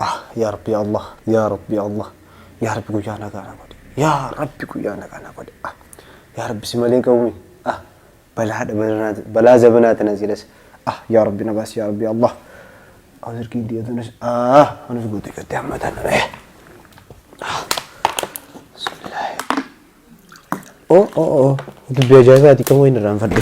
Ah yaa rabbi yaa Allah yaa rabbi yaa Allah yaa rabbi guyyaa nagaa na godhi yaa rabbi guyyaa nagaa na godhi ah yaa rabbi si malee ga'uumi ah balaa dhabanaa balaa zabanaa tana silas ah yaa rabbi na baasi yaa rabbi yaa Allah Anis ergiin diya tunis ah anis guutii gattee amma tana eh bismillaahi oh oh oh dubbii ajaa'ibaati kamuu hin irraanfadhe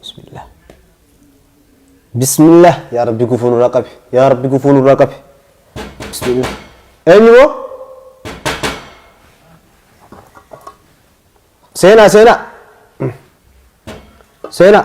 Bismillah. Bismillah. Yaa Rabbi gufuu nurraa qabi. Yaa Rabbi gufuu nurraa qabi. Bismillah. Eenyu moo? Seenaa seenaa. Seenaa.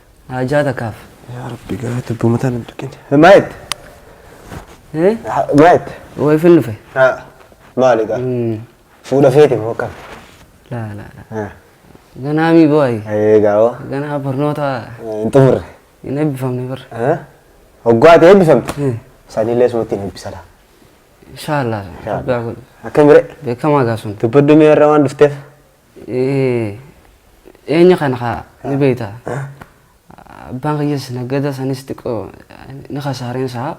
Haajaa takkaaf. Yaa rabbi garaa tubbuma tana hin tuqin. Maa jette? Eh? Ha- Maa jette? Way fin dhufe. Haa. Maali gaa? Hmm. Fuudha feete moo akkam? Laa laa laa. Haa. Ganaa mii booyi. Ee gaawoo. Ganaa barnoota Hin xumurre. hin eebbifamne bar. Haa? Hoggaa ati eebbifamte. Hmm. Sanillee sumatti hin eebbisala. Inshaallah. Inshaallah. Rabbi haa godhu. Akkam bire? Beekamaa gaa sun. Dubbaddu mee irra waan dhufteef. Eenya kana kaa ni beekta. Abbaan kiyyas naggada sanis xiqqoo ni kasaareen isaa.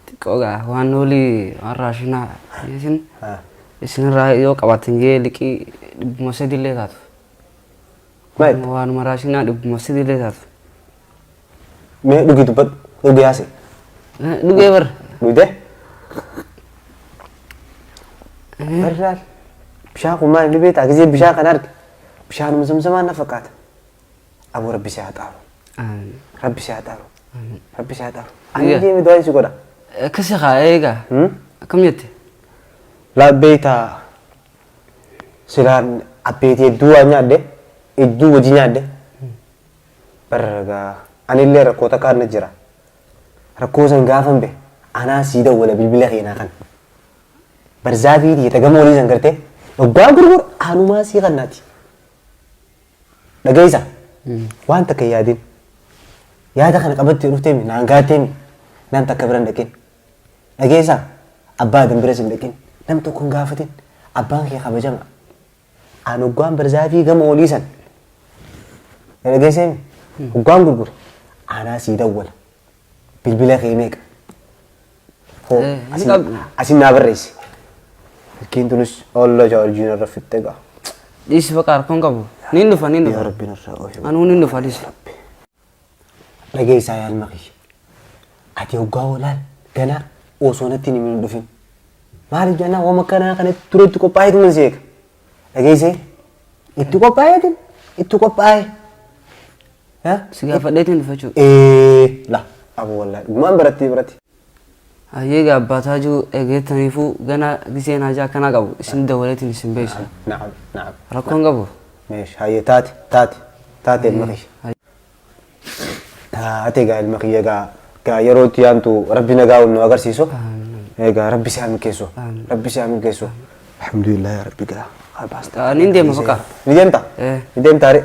Xiqqoo gaa waan noolii waan raashinaa isin isinirraa yoo qabaatan jee liqii dhibbuma sadillee taatu. Waanuma raashinaa dhibbuma sadillee taatu. Mee dhugii dubbadhu. Dhugee haasee. Dhugee bar. Dhugdee? Barraal. Bishaan kun maal inni beektaa? Gisee bishaan kan arge. Bishaanuma zamzamaa na fakkaata. Aboo rabbi si haa xaaru. Rabbi si haa xaaru. Rabbi si haa xaaru. Ani Egaa. deemee du'aa si godha. Akkasi haa eegaa. Hmm? Akkam jette? Laa beektaa silaan abbeetii hedduu waan nyaadde hedduu hojii nyaadde Bar gaa anillee rakkoo takkaan na jira. Rakkoo san gaafan be anaa sii dawwala bilbila keenaa kan. Barzaafii tiyya ta gama olii san gartee dhoggaa gurgur anumaa sii kannaati. Dhageessa waan takka hin yaadin. Yaada kana qabattee dhuftee mi naan gaattee mi nam takka bira hin dhaqin. Dhageessa abbaa adan biras hin dhaqin nam tokko hin gaafatin abbaan kee kabajama. Aan hoggaan barzaafii gama olii san na dhageessee mi hoggaan gurgure aanaa sii dawwala bilbila kee meeqa hoo Eh, hin asin- qabdu. asin naa barreessi fakkiin tunis olla jaarjiin irra fixxe gaa Dhiisi baqa harkoon qabu. Niin dhufa niin yaa dhufa. rabbiin irraa ofi Anuu niin dhufa dhiisi. Dhageessaa yaa ilma kiyya. Ati hoggaa hoolaan ganaa osoo natti hin himin hin dhufin. Maaliif jennaan waan akkanaa kana ture itti qophaa'eetu nan si eega. Dhageessee? Itti qophaa'eetu itti qophaa'ee. Ha? Si gaafadheetu hin dhufa jechuudha. Ee la abu wallahi dhugumaan barattii biratti. Hayyee gaa abbaa taajuu erga jettaniifuu ganaa giseen haajaa akkanaa qabu isin dawwaleetiin isin beeksisa. Na'am na'am. Rakkoon qabu? Meesh hayyee taate taate taate ilma kiyya. Taate gaa ilma kiyya gaa gaa yeroo itti yaantu rabbi nagaa wal nu agarsiisu. Egaa rabbi si haa milkeessu. Rabbi si haa milkeessu. Alhamdulillah yaa rabbi gaa. Haa baasta. Nin deema baqa. Ni deemta? Eh. Ni deemta ree?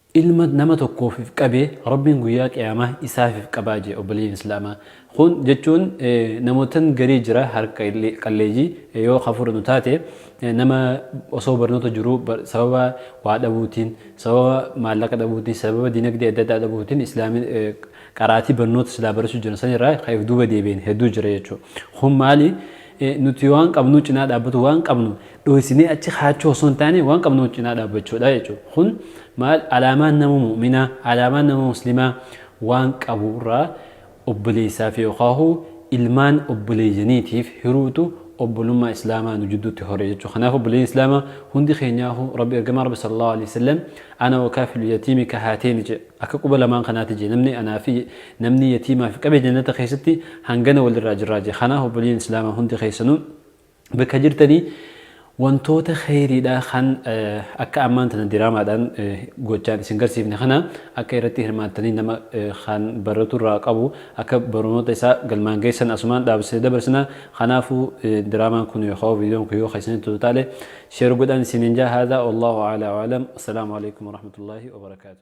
Ilma nama tokkoofif qabe Rabbiin guyyaa qiyaamah isaafif qabaa jee obboleeyyan islaama kun jechuun namotan garii jira harka qalleeyyi yoo ka fudhanu taate nama osoo barnoota jiruu sababa waa dhabuutiin sababa maallaqa dhabuutiin sababa dinagdee adda addaa dhabuutiin islaami qaraatii barnoota silaa barasuu jiran san irraa ka if duuba deebi'en hedduu jira jechuu kun maali Nuti waan qabnuu cinaa dhaabbatu waan qabnu dhooysinee achi kaachuu osoo hin taane waan qabnu cinaa dhaabbachuudha jechuudha. Kun maal alaamaan nama mu'minaa alaamaan nama muslimaa waan qabu irraa obboleessaaf yookaahu ilmaan obboleeyyaniitiif hiruutu obbolummaa islaamaa nu jidduutti hore jechuudha. Kanaaf obboleeyyan islaamaa hundi keenyaahu rabbi ergamaa rabbi sallallahu alaihi wasallam ana wakaafilu yatiimi kahaateeni jedhe. Akka quba lamaan kanaati je, namni anaa fi namni yatiimaa fi qabe jannata keessatti hangana wal irraa jirraa je. Kanaaf obboleeyyan islaamaa hundi keessanuu bakka jirtanii wantoota kheyriidhaa kan akka ammaan tana diraamaadhaan gochaan isin garsiifne kana akka irratti hirmaattanii nama kan baratu irraa qabu akka barnoota isaa galmaan geessan asumaan dhaabsee dabarsina kanaafuu diraamaan kun yookaan viidiyoon kun yoo keessanitti tolu taale sheer godhaan isiniin jaa haadaa wallaahu a'laa wa'alam assalaamu alaikum warahmatullaahi wabarakaatu